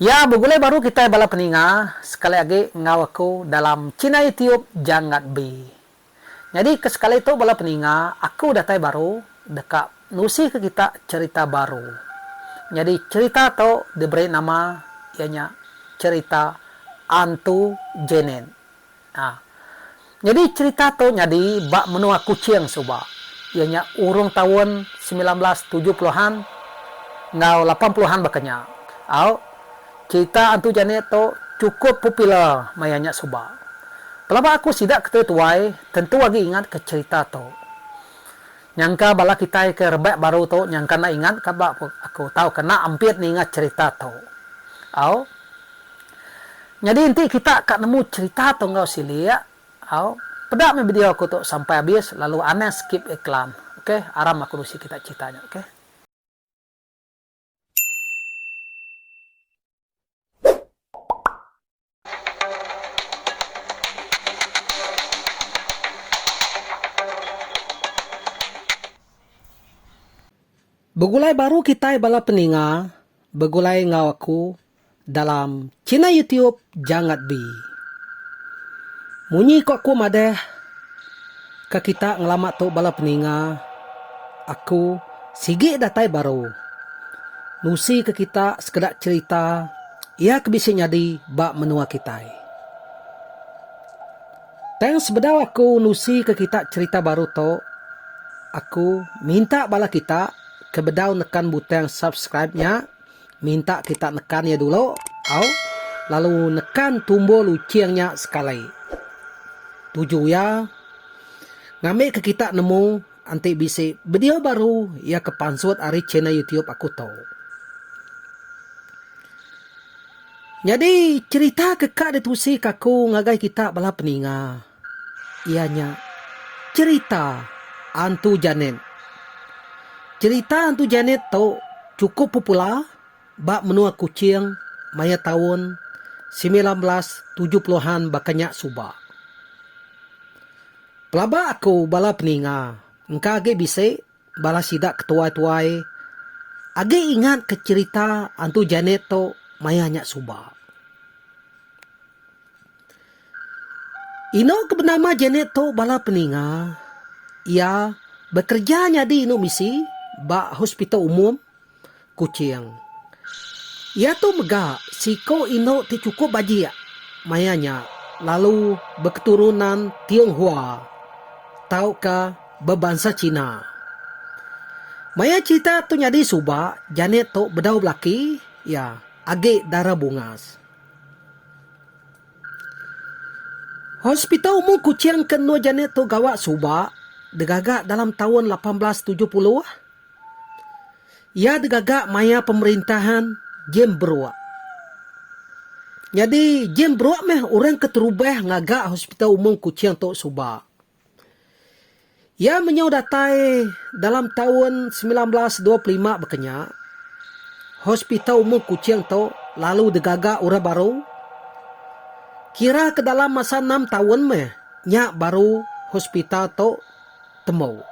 Iya begulai baru kitai bala peninga sekali agi enggau aku dalam Chinai Tiup Jangat Bi. Nyadi ke sekali tu bala peninga aku datai baru deka nusihka kita cherita baru. Nyadi cherita tu diberi nama iya nya Cherita Antu Janet. A. Nyadi cherita tu nyadi ba menua Kuching suba, iya nya urung taun semilan belas tujuh puluh an enggau lapan puluh an baka nya. Au, cherita Antu Janet tu chukup popular maya nya suba. Pelaba aku sida ke tetuai tentu agi ingatka cherita tu. Nyangka bala kitai ke rebak baru tu nyangka enda ingat ka ba aku tauka enda ampit ninga cherita tu. Au. Nyadi enti kita ka nemu cherita tu enggau silik, au, peda meh video aku tu sampai abis lalu anang skip iklan. Okay, aram aku nusi kita cherita nya. Okay. Begulai baru kitai bala peninga begulai enggau aku dalam channel YouTube Jangat Bi. Munyi ko aku madah ka kita ngelama tu bala peninga, aku sigi datai baru nusi ke kita sekeda cherita ia ke bisi nyadi ba menua kitai. Tang sebedau aku nusi ke kita cherita baru tu, aku minta bala kita ke bedau nekan butang subscribe nya, minta kita nekan iya dulu au lalu nekan tumbuh luching nya sekali. Tuju iya ngambika kita nemu enti bisi video baru iya ke pansut ari channel YouTube aku tu. Nyadi cherita ke ka ditusika aku ngagai kita bala peninga. iya nya cherita Antu Janet. Cherita Antu Janet tu chukup popular ba menua Kuching maya taun semilan belas tujuh puluh an baka nya suba. Pelaba aku bala peninga engka agi bisi. Bala sida ke tuai-tuai agi ingat ke cherita Antu Janet tu maya nya suba. Inu ke benama Janet tu bala peninga iya bekereja nyadi inu misi ba hospital umum. Kuching. Iya tu mega seiku indu ti chukup bajik maya nya lalu beketurunan Tionghoa tauka bebansa China. Maya cherita tu nyadi suba Janet tu bedau belaki iya agi dara bungas. Hospital umum Kuching ke endur Janet tu gawa suba digaga dalam taun lapan belas tujuh puluh. Iya digaga maya pemerintahan Jim Brooke. Nyadi, Jim Brooke meh orang keterubah ngaga Hospital Umum Kuching tu suba. Iya menyau datai dalam taun semilan belas dua puluh lima bekenya, Hospital Umum Kuching tu lalu digaga orang baru. Kira ke dalam masa enam taun meh nya baru hospital tu temu.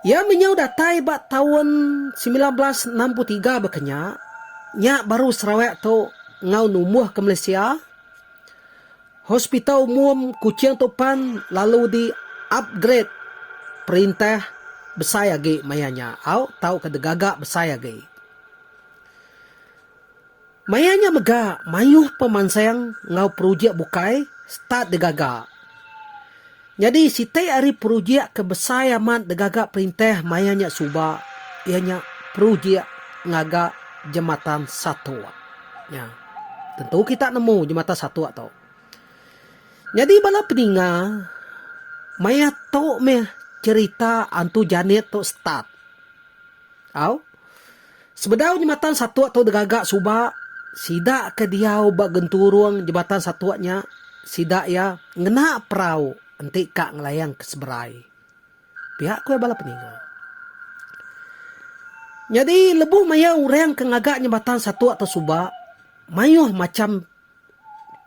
Iya menyau datai ba taun semilan belas enam puluh tiga baka nya, nya baru Sarawak tu enggau numbuh ke Malaysia. Hospital Umum Kuching tu pan lalu di upgrade perintah besai agi maya nya au tauka digaga besai agi. Maya nya mega mayuh pemansang enggau projek bukai start digaga. Nyadi siti ari projek ke besai amat digaga perintah maya nya suba iya nya projek ngaga jematan satok nya. Tentu kita nemu jematan satok tu. Nyadi bala peninga maya tu meh cherita Antu Janet tu start. Au. Sebedau nyematan satuk tu degaga suba, sida ke diau ba genturung jematan satuk nya, sida iya ngena perau enti ka ngelayang ke seberai, pia ku iya bala peninga. Nyadi lebuh maya orang ke ngaga nyematan satuk tu suba, mayuh macham.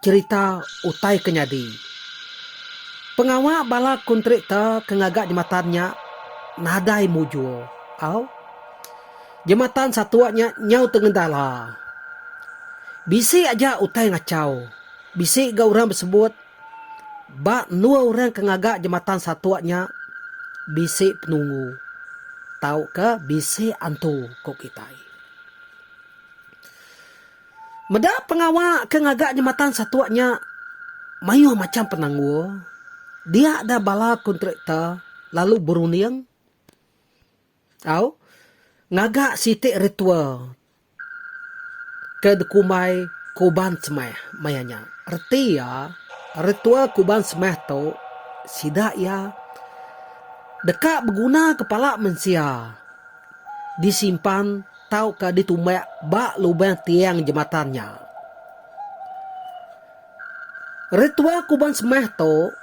cherita utai ke nyadi. Pengawa bala kontraktor ke ngaga jematan nya nadai mujur au. Jematan satuk nya nyau tengendala. Bisi aja utai ngachau. Bisi ga orang besebut ba endur orang ke ngaga jematan satuk nya bisi penunggu tauka bisi antu ku kitai. Meda pengawa ke ngaga jematan satuk nya mayuh macham penanggul, dia da bala kontraktor lalu berunding tau ngaga siti ritual ke dikumbai Kuban Semeh maya nya. Reti iya, ritual Kuban Semeh tu sida iya deka begunaka pala mensia disimpan. tauka ditumbak ba lubang tiang jematan nya. Ritual kuban semah tu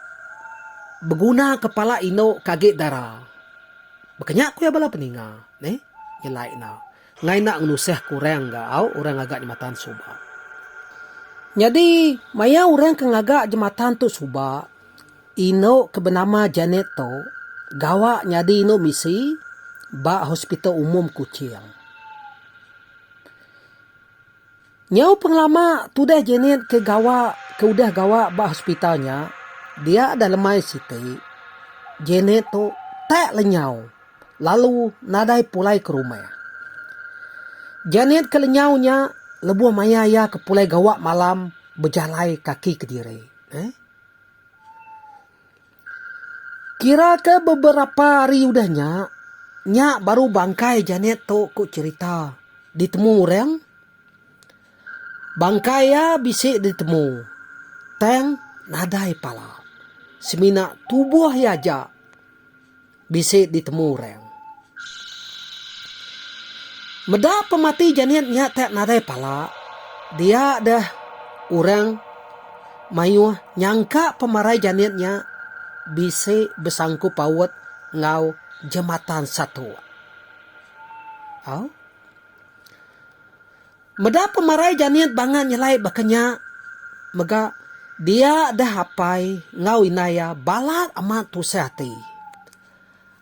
beguna kepala indu ke agi dara. Baka nya ku iya bala peninga neh nyelai enda ngai enda ngenusah ke orang ga au orang ngaga jematan suba. Nyadi maya orang ke ngaga jematan tu suba Indu ke benama Janet tu gawa nyadi indu misi ba Hospital Umum Kuching. Nyau pengelama tudah Janet ke gawa ke udah gawa ba hospital nya, dia deh lemai siti, Janet tu tak lenyau lalu nadai pulai ke rumah. Janet ke lenyau nya lebuh maya iya ke pulai gawa malam bejalai kaki kediri. Kira ke beberapa hari udah nya, nya baru bangkai Janet tu ku cherita ditemu orang. Bangkai iya bisi ditemu tang nadai pala semina tubuh iya aja. bisi ditemu orang. Meda pemati Janet nya tak nadai pala, dia deh orang mayuh nyangka pemarai Janet nya bisi besangku paut enggau jematan satu. Au. Meda pemarai Janit bangat nyelai baka nya mega dia deh apai enggau indai iya balat amat tusah ati.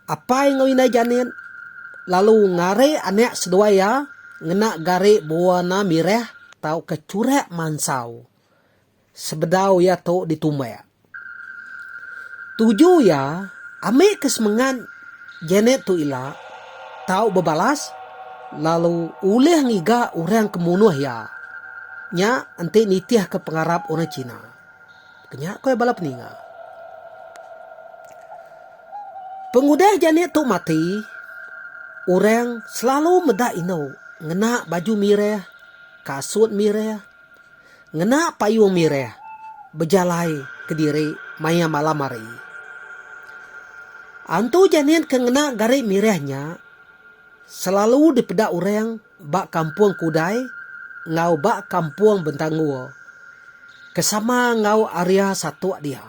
Apai enggau indai Janit lalu ngarik anak seduai iya ngena garik bewarna mirah tauka churak mansau. Sebedau iya tu ditumbak, tuju iya ambika semengat Janet tu ila tau bebalas lalu ulih ngiga orang ke munuh iya nya enti nitihka pengarap orang China, ku nya ku bala peninga. Pengudah Janet tu mati, orang selalu meda indu ngena baju mirih, kasut mirih. Ngena payung mirih bejalai kediri maya malam hari. Antu Janet ke ngena gari mirih nya selalu dipeda orang ba Kampung Kudai enggau ba Kampung Bentanggur ke sama enggau area satuk dia.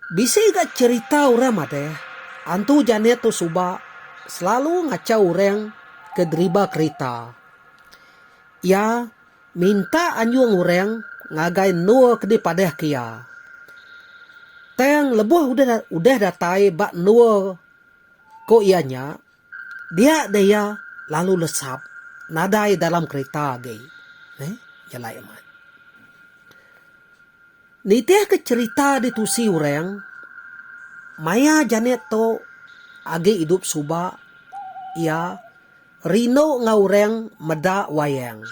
Bisi ga cherita orang madah, Antu Janet tu suba selalu ngachau orang ke deriba kerita. Iya minta anjung orang ngagai endur ke dipadahka iya. Tang lebuh udah datai ba endur ku iya nya, Dia deh iya lalu lesap nadai dalam kerita agi. Neh, jalai amat. Nitihka cherita di tusi orang, maya Janet tu agi idup suba, iya rindu enggau orang meda wayang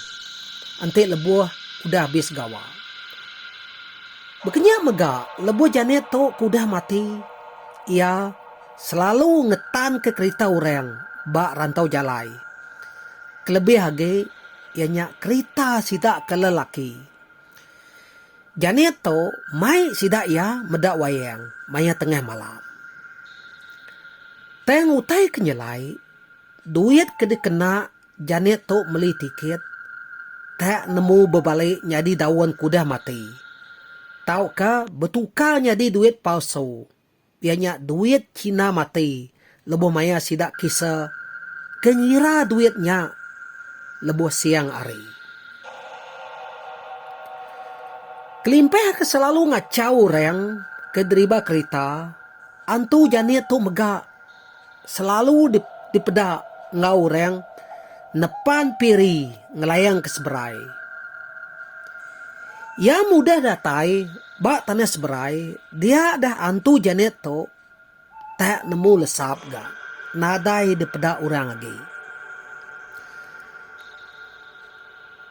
enti lebuh udah abis gawa. Baka nya mega, lebuh Janet tu ke udah mati, iya. Selalu ngetanka kerita orang ba rantau jalai. Kelebih agi iya nya kerita sida ke lelaki. Janet tu mai sida iya meda wayang maya tengah malam. Tang utai ke nyelai, duit ke dikena Janet tu meli tiket tak nemu bebali nyadi daun ke udah mati tauka betukar nyadi duit palsu. Pia nya duit China mati lebuh maya sida kisa ke ngira duit nya lebuh siang hari. Kelimpah ke selalu ngachau orang ke deriba kerita, antu janik tu mega. selalu dipeda enggau orang nepan piri ngelayang ke seberai. Iya mudah datai ba tanah seberai dia dah antu Janet tu tak nemu lesap ga nadai dipeda orang agi.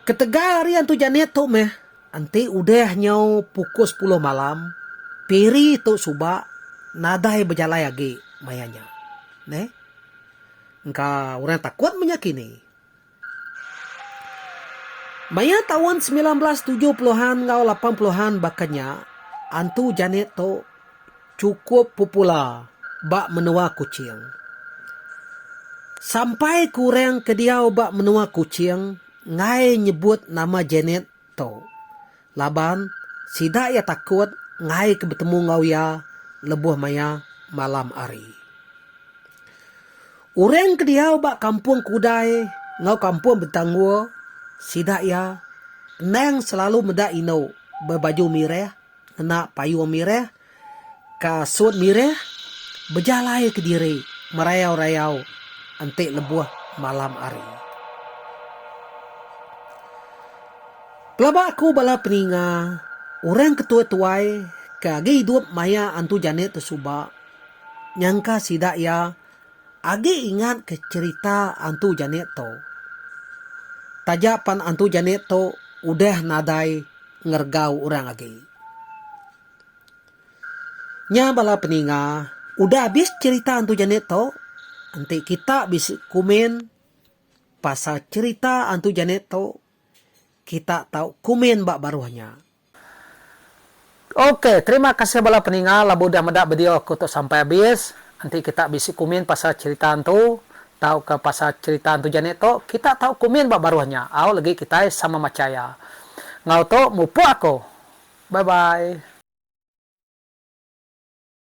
Ketegal ari antu Janet tu meh. Enti udah nyau pukul sepuluh malam, peri tu suba nadai bejalai agi maya nya. Neh. Engka orang takut menya kini. Maya taun semilan belas tujuh puluh an enggau lapan puluh an baka nya, Antu Janet tu. chukup popular ba menua Kuching. Sampai ke orang ke diau ba menua Kuching enggai nyebut nama Janet tu laban sida iya takut enggai ke betemu enggau iya lebuh maya malam hari. Orang ke diau ba Kampung Kudai enggau Kampung Bentanggur sida iya endang selalu meda indu bebaju mirih. ngena payung mirih ka sut mirih bejalai kediri merayau-rayau enti lebuh malam hari. Pelaba aku bala peninga, orang ke tuai-tuai ke agi idup maya antu janet tu suba, nyangka sida iya Agi ingat ke cherita antu janet tu. Taja pan antu janet tu udah nadai ngergau orang agi. Nya bala peninga udah abis cherita antu janet tu enti kita bisi komen pasal cherita antu janet tu kita tau komen ba baruh nya. Ok terima kasih bala peninga labu udah meda video aku tu sampai habis enti kita bisi kumin pasal cerita ntu tauka pasal cerita ntu jani tu kita tau kumin ba baruh nya au legi kitai sama macha iya ngau tu mupuk aku bye bye.